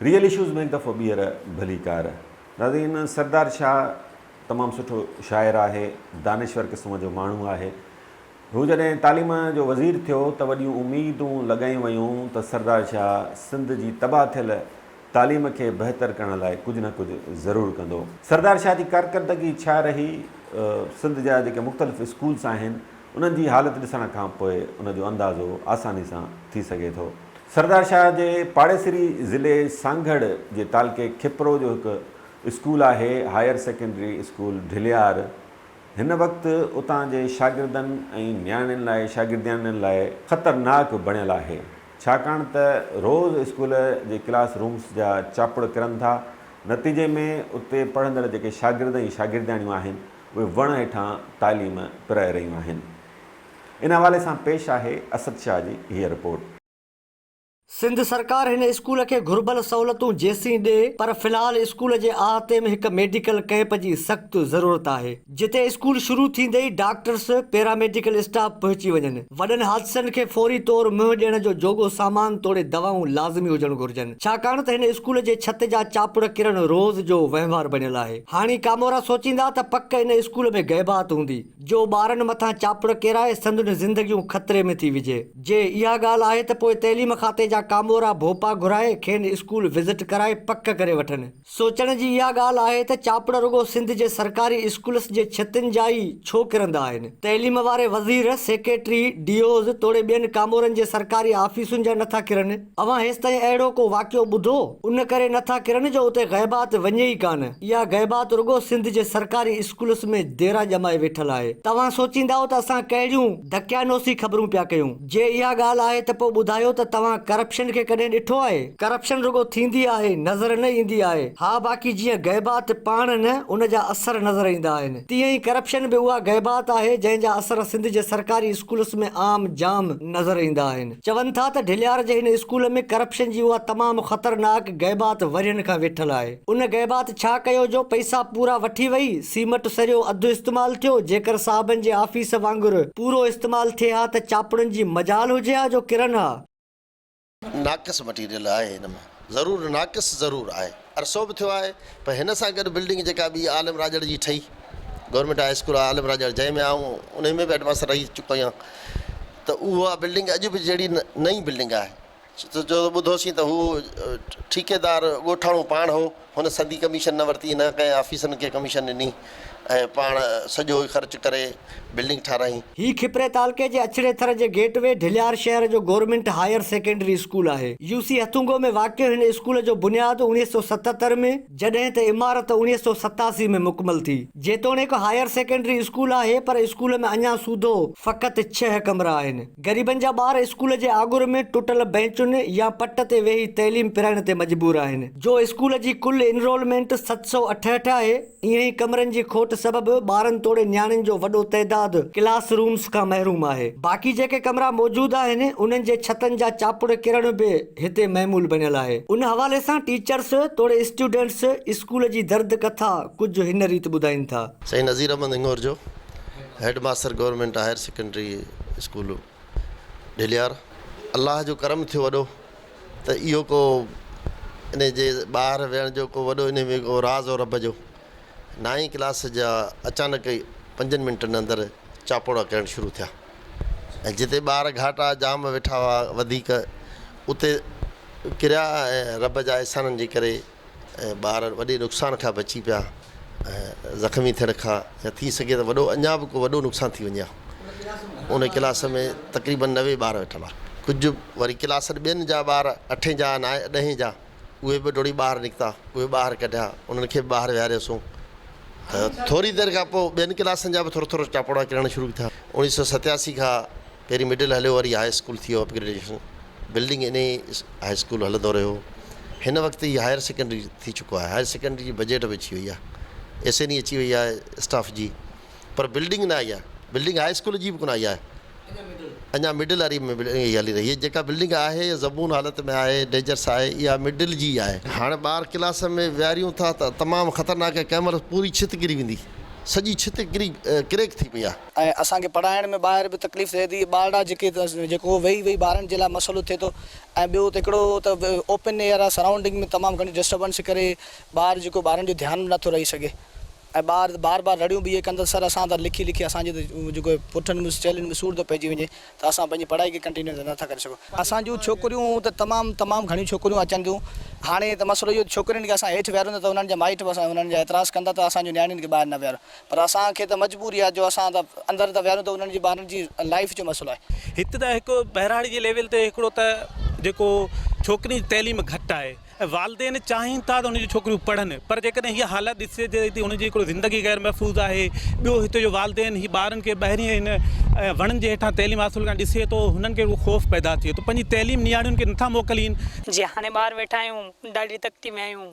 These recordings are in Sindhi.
ريئل اشوز ۾ هڪ دفعو ٻيهر ڀلي ڪار. ناظرين سردار شاهه تمام سٺو شاعر آهي دانشور قسم جو ماڻهو آهي هو جڏهن تعليم جو وزير ٿيو ته وڏيون اميدون لڳايون ويون ته سردار شاهه سنڌ جي تباهه ٿيل تعليم کي بهتر ڪرڻ لاء ڪجهه نه ڪجهه ضرور ڪندو. سردار شاهه جي ڪارڪردگي ڇا رهي؟ سنڌ جا جيڪي مختلف اسڪولس آهن، انهن جي حالت ڏسڻ کان پوء ان جو اندازو آساني سان ٿي سگهي ٿو. سردار شاهه جي پاڙيسري ضلعي سانگهڙ جي تعلقي کپرو جو هڪ اسڪول آهي هائير سيڪنڊري اسڪول ڍليار. هن وقت اتان جي شاگردن ۽ نياڻين لاء شاگردياڻين لاء خطرناڪ بڻيل آهي. ڇاڪاڻ ته روز اسڪول جي ڪلاس رومس جا چاپڙ ڪرن ٿا، نتيجي ۾ اتي پڙهندڙ جيڪي شاگرد ۽ شاگردياڻيون آهن، اهي وڻ هيٺان تعليم پرائي رهيون آهن. ان حوالي سان پيش آهي اسد شاهه جي هيء رپورٽ. سنڌ سرڪار هن اسڪول کي گهربل سهولتون جيسين ڏئي پر في الحال اسڪول جي احاطي ۾ هڪ ميڊيڪل ڪئمپ جي سخت ضرورت آهي. جتي اسڪول شروع ٿيندي ئي ڊاڪٽرس، پيراميڊيڪل اسٽاف پهچي وڃن. وڏن حادثن کي فوري طور منهن ڏيڻ جو جوڳو سامان توڙي دوائون لازمي هجڻ گهرجن. ڇاڪاڻ ته هن اسڪول جي ڇت جا چاپڙ ڪرڻ روز جو وهنوار بڻيل آهي. هاڻي ڪامورا سوچيندا ته پڪ ان اسڪول ۾ غيبات هوندي، جو ٻارن مٿان چاپڙ ڪيرائي سندن زندگيون خطري ۾ ٿي وجهي. جي اها ڳالهه آهي ته پوء تعليم کاتي جا ڪامورا ڀوپا گهرائي کين اسڪول وزٽ ڪرائي پڪ ڪري وٺن. سوچڻ جي اها ڳالهه آهي ته چاپڙ رڳو سنڌ جي سرڪاري اسڪولس جي ڇتين جا ئي ڇو ڪرندا آهن؟ تعليم واري وزير، سيڪريٽري، ڊي اوز توڙي ٻين ڪامورن جي سرڪاري آفيسن جا نٿا ڪرن؟ اوهان هيستائين اهڙو ڪو واقعو ٻڌو؟ ان ڪري نٿا ڪرن جو اتي غيبات وڃي ئي ڪانه. اها غيبات رڳو سنڌ جي سرڪاري اسڪولس ۾ ديرا ڄمائي ويٺل آهي. توهان سوچيندا ته اسان ڪهڙيون دقيانوسي خبرون پيا ڪيون. جي اها ڳالهه آهي ته پوء ٻڌايو ته توهان ڪرپشن کي ڪڏهن ڏٺو آهي؟ ڪرپشن رڳو ٿيندي آهي نظر نه ايندي آهي. ها باقي جيئن غيبات پاڻ نه ان جا اثر نظر ايندا آهن تيئن ئي ڪرپشن به اها غيبات آهي جنهن جا اثر سنڌ جي سرڪاري اسڪولس ۾ عام جام نظر ايندا آهن. چون ٿا ته ڍليار جي هن اسڪول ۾ ڪرپشن جي اها تمام خطرناڪ غيبات ورهين کان ويٺل آهي. ان غيبات ڇا ڪيو جو پئسا پورا وٺي وئي، سيمٽ سريو اڌ استعمال ٿيو، جيڪر صاحبن جي آفيس وانگر پورو استعمال ٿئي ها ته چاپڙن جي مجال هجي ها جو ڪرن ها. ناقص مٽيريل آهي هن ۾ ضرور ناقص ضرور آهي عرصو به ٿيو آهي پر هن سان گڏ بلڊنگ جيڪا ٻي عالم راڄڙ جي ٺهي government high school Alam Rajar جنهن ۾ آئون انهي ۾ به هيڊماستر رهي چڪو آهيان ته اها بلڊنگ اڄ به جهڙي نئين بلڊنگ آهي جو ٻڌوسين ته هو ٺيڪيدار ڳوٺاڻو پاڻ هو، هن سندي ڪميشن نه ورتي، نه ڪنهن آفيسرن کي ڪميشن ڏني ۽ پاڻ سڄو ئي خرچ ڪري بلڊنگ ٺاراهي. هي کپري تعلقي جي اڇڙي ٿر جي گيٽ وي ڍليار شهر جو گورنمينٽ هائير سيڪنڊري اسڪول آهي. يو سي هٿونگو ۾ واقع هن اسڪول جو بنياد اوڻيهه سؤ ستهتر ۾ جڏهن ته عمارت اوڻيهه سؤ ستاسي ۾ مڪمل ٿي. جيتوڻيڪ هائير سيڪنڊري اسڪول آهي پر اسڪول ۾ اڃان سوڌو فقط ڇهه ڪمرا آهن. غريبن جا ٻار اسڪول جي آڳر ۾ ٽٽل بئنچن يا پٽ تي ويهي تعليم پرائڻ تي مجبور آهن. جو اسڪول جي ڪل انرولمينٽ ست سؤ اٺهٺ آهي. ايئن ئي ڪمرن جي کوٽ سبب ٻارن توڙي نياڻين جو وڏو تعداد ڪلاس رومز کان محروم آهي. باقي جيڪي ڪمرا موجود آهن انهن جي ڇتن جا چاپڙ ڪرڻ به هتي معمول بڻيل آهي. ان حوالي سان ٽيچرس توڙي اسٽوڊنٽس اسڪول جي درد ڪٿا ڪجهه هن ريت ٻڌائين ٿا. سائين نذير احمد هڱور جو head master government higher secondary school Dhilyar Allah جو ڪرم ٿيو وڏو ته اهو ڪو ان جي ٻاهر ويهڻ جو ڪو وڏو ان ۾ ڪو راز او رب جو نائين ڪلاس جا اچانڪ ئي پنجن منٽن اندر چاپوڙا ڪرڻ شروع ٿيا ۽ جتي ٻار گهاٽا جام ويٺا هئا وڌيڪ اتي ڪريا ۽ رب جا احسانن جي ڪري ۽ ٻار وڏي نقصان کان بچي پيا ۽ زخمي ٿيڻ کان يا ٿي سگهي ته وڏو اڃا به ڪو وڏو نقصان ٿي وڃي هان ان ڪلاس ۾ تقريبن نوي ٻار ويٺل آ ڪجهه وري ڪلاس ٻين جا ٻار اٺين جا نائين ڏهين جا اهي به ڊوڙي ٻاهر نڪتا اهي ٻاهر ڪڍيا انهن کي ٻاهر ويهاريوسون ته ٿوري دير کان پوء ٻين ڪلاسن جا به ٿورو ٿورو ٽاپوڙا ڪرڻ شروع ٿيا اوڻيهه سو ستياسي کان پهرين مڊل هليو وري هاء اسڪول ٿيو اپ گريڊيشن بلڊنگ انهي هاء اسڪول هلندو رهيو هن وقت هي هائر سيڪنڊري ٿي چڪو آهي هائر سيڪنڊري جي بجيٽ به اچي وئي آهي ايس اين اي اچي وئي آهي اسٽاف جي پر بلڊنگ نه آئي آهي بلڊنگ هاء اسڪول جي به ڪونه آئي آهي اڃا مڊل واري ۾ هلي رهي هي جيڪا بلڊنگ آهي زبون حالت ۾ آهي ڊيجرس آهي اها مڊل جي آهي هاڻي ٻار ڪلاس ۾ ويهاريون ٿا ته تمام خطرناڪ ڪنهن مهل پوري ڇت ڪري ويندي سڄي ڇت ڪري ڪريڪ ٿي پئي آهي ۽ اسان کي پڙهائڻ ۾ ٻاهر به تڪليف ٿئي ٿي ٻارڙا جيڪي جيڪو ويهي ويهي ٻارن جي لاء مسئلو ٿئي ٿو ۽ ٻيو ته هڪڙو ته اوپن ايئر آ سرائونڊنگ ۾ تمام گهڻي ڊسٽربنس ڪري ٻار جيڪو ٻارن جو ڌيان به نٿو رهي سگهي ۽ ٻار بار بار رڙيون به اهي ڪن ته سر اسان ته لکي لکي اسان جي ته جيڪو پٺن ۾ چيلهن ۾ سور ٿو پئجي وڃي ته اسان پنهنجي پڙهائي کي ڪنٽينيو ته نٿا ڪري سگهون اسان جون ڇوڪريون ته تمام تمام گهڻيون ڇوڪريون اچن ٿيون هاڻي ته مسئلو اهو ڇوڪرين کي اسان هيٺ ويهاريون ته انهن جا مائٽ به اسان انهن جا اعتراض ڪن ٿا ته اسان جون نياڻين کي ٻاهر نه ويهاريو پر اسان کي ته مجبوري آهي جو اسان ته اندر ته ويهاريون ته انهن جي ٻارن جي لائيف جو مسئلو آهي. هت ته هڪ ٻهراڙي جي ليول تي هڪڙو ته جيڪو ڇوڪرين جي تعليم گهٽ آهي ۽ والدين چاهين ٿا ته انهن جون ڇوڪريون پڙهن پر جيڪڏهن هيء حالت ڏسجي ته انهن جي هڪڙو زندگي غير محفوظ آهي ٻيو هتي جو والدين هي ٻارن کي ٻاهرين هن وڻن جي هيٺان تعليم حاصل ڪرڻ ڏسي ٿو هنن کي هڪڙو خوف پيدا ٿئي ٿو پنهنجي تعليم نياڻين کي نٿا موڪلين. جي هاڻي ٻاهر ويٺا آهيون ڏاڍي تڪتي ۾ آهيون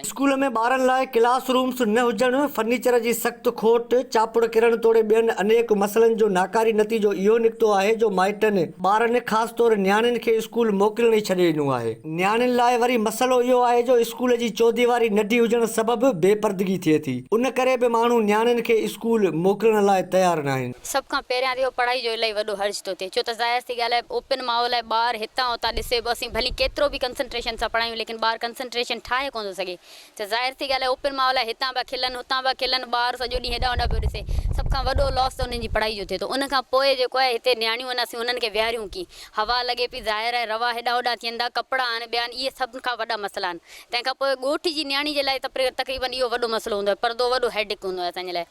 اسڪول ۾ ٻارن لاء ڪلاس رومز نه هجڻ، فرنيچر جي سخت کوٽ، چاپڙ ڪرڻ توڙي ٻين انيڪ مسئلن جو ناڪاري نتيجو اهو نڪتو آهي جو مائٽن، ٻارن خاص طور نياڻين کي اسڪول موڪلڻ ئي ڇڏي ڏنو آهي. نياڻين لاء وري مسئلو اهو آهي جو اسڪول جي چوديواري ننڍي هجڻ سبب بي پردگي ٿئي ٿي، ان ڪري به ماڻهو نياڻين کي اسڪول موڪلڻ لاء تيار ناهن. سڀ کان پهريان اهو پڙهائي جو الائي وڏو حرج ٿو ٿئي ڇو ته ظاهر سي ڳالهه آهي اوپن ماحول آهي ٻار هتان هتان ڏسي به اسين ڀلي ڪيترو به ڪنسنٽريشن سان پڙهايون ليڪن ٻار ڪنسنٽريشن ٺاهي ڪونه ٿو سگهي ته ظاهر سي ڳالهه آهي اوپن ماحول آهي هتان پيا کلن هتان پيا کلن ٻار سڄو ڏينهن هيڏانهن هوڏانهن پيو ڏسي سڀ کان وڏو لاس ته انهن جي پڙهائي جو ٿئي ٿو ان کان پوء جيڪو آهي هتي نياڻيون آهن اسين انهن کي ويهاريون ڪيئن هوا لڳي پئي ظاهر آهي روا هيڏانهن هوڏانهن ٿين ٿا ڪپڙا آهن ٻيا آهن اهي سڀ کان وڏا مسئلا آهن تنهن کان پوء ڳوٺ جي نياڻي جي لاء ته تقريبن اهو وڏو مسئلو هوندو آهي پردو وڏو هيڊڪ هوندو آهي اسان جي لاء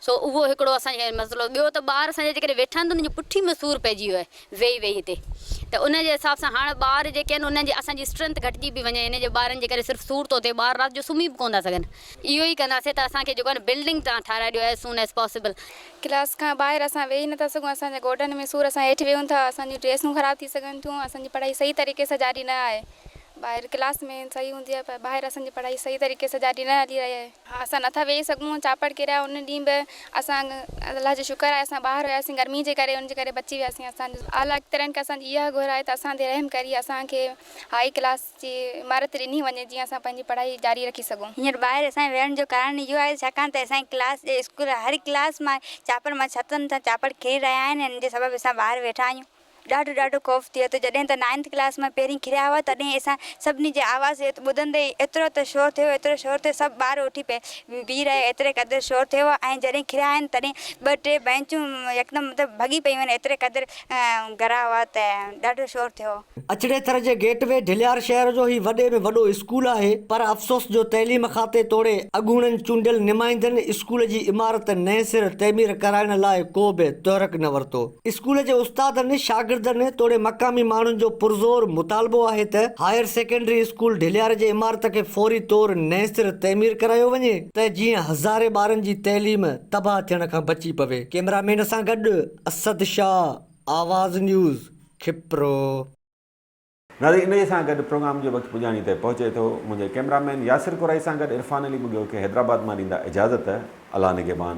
سو اهو هڪڙو اسان کي مسئلو ٻيو ته ٻار اسان جا جيڪڏهن ويٺا آهن ته انهن جي پٺي ۾ سور پئجي ويو آهي ويهي ويهي هتي ته ان جي حساب سان هاڻ ٻار جيڪي آهن انهن جي اسان جي اسٽرينٿ گهٽجي پئي وڃي ان جي ٻارن جي ڪري صرف سور ٿو ٿئي ٻار رات جو سمهي به ڪونه ٿا سگهن اهو ئي ڪنداسين ته اسان کي جيڪو آهي نه بلڊنگ تان ٺاهرائي ڏيو as soon as possible. Class کان ٻاهر اسان ويهي نٿا سگهون اسان جا گوڏن ۾ سور اسان هيٺ ويهون ٿا اسان جون ڊريسون خراب ٿي سگهن ٿيون اسان جي پڙهائي صحيح طريقي سان جاري نه آهي ٻاهر ڪلاس ۾ صحيح هوندي آهي پر ٻاهر اسان جي پڙهائي صحيح طريقي سان جاري نه هلي رهي آهي. اسان نٿا ويهي سگهون چاپڙ ڪريا ان ڏينهن به اسان الله جو شڪر آهي اسان ٻاهر هياسين گرمي جي ڪري ان جي ڪري بچي وياسين اسان جي اعليٰ اختيارين کي اسان جي اها گهر آهي ته اسان تي رحم ڪري اسان کي هائي ڪلاس جي عمارت ڏني وڃي جيئن اسان پنهنجي پڙهائي جاري رکي سگهون. هينئر ٻاهر اسان جي ويهڻ جو ڪارڻ اهو آهي ڇاڪاڻ ته اسان جي ڪلاس جي اسڪول هر ڪلاس مان چاپڙ مان ڇتن تان چاپڙ ڪري رهيا آهن ان جي سبب اسان ٻاهر ويٺا آهيون. ڏاڍو ڏاڍو خوف ٿئي ٿو جڏهن ته نائنٿ ڪلاس مان پهرين کڙيا هئا تڏهن اسان سڀني جي آواز ٻڌندي ئي ايترو ته شور ٿيو ايترو شور ٿيو سڀ ٻار اٿي پئي بيهي رهيا ايتري قدر شور ٿيو ۽ جڏهن کڙيا آهن تڏهن ٻه ٽي بئنچون يڪدم مطلب ڀڳي پيون آهن ايتري قدر گرا هئا ته ڏاڍو شور ٿيو. اچڙي ٿر جي گيٽ وي ڍليار شهر جو هي وڏي ۾ وڏو اسڪول آهي پر افسوس جو تعليم کاتي توڙي اڳوڻن چونڊيل نمائندن اسڪول جي عمارت نئين سر تعمير ڪرائڻ لاء ڪو به تحرڪ نه ورتو. اسڪول جي استادن، شاگردن توڙي مقامي ماڻهن جو پرزور مطالبو آهي ته هائير سيڪنڊري اسڪول ڍليار جي عمارت کي فوري طور نئين سر تعمير ڪرايو وڃي ته جيئن هزارين ٻارن جي تعليم تباهه ٿيڻ کان بچي پوي. ڪيمرا مين سان گڏ اسد شاهه، آواز نيوز، کپرو. ناظرين انهيء سان گڏ پروگرام جو وقت پڄاڻي تي پهچي ٿو. منهنجي ڪئميرا مين ياسر ڪورائي سان گڏ عرفان علي ٻگهيو کي حيدرآباد مان ڏيندا اجازت. الله نگهبان.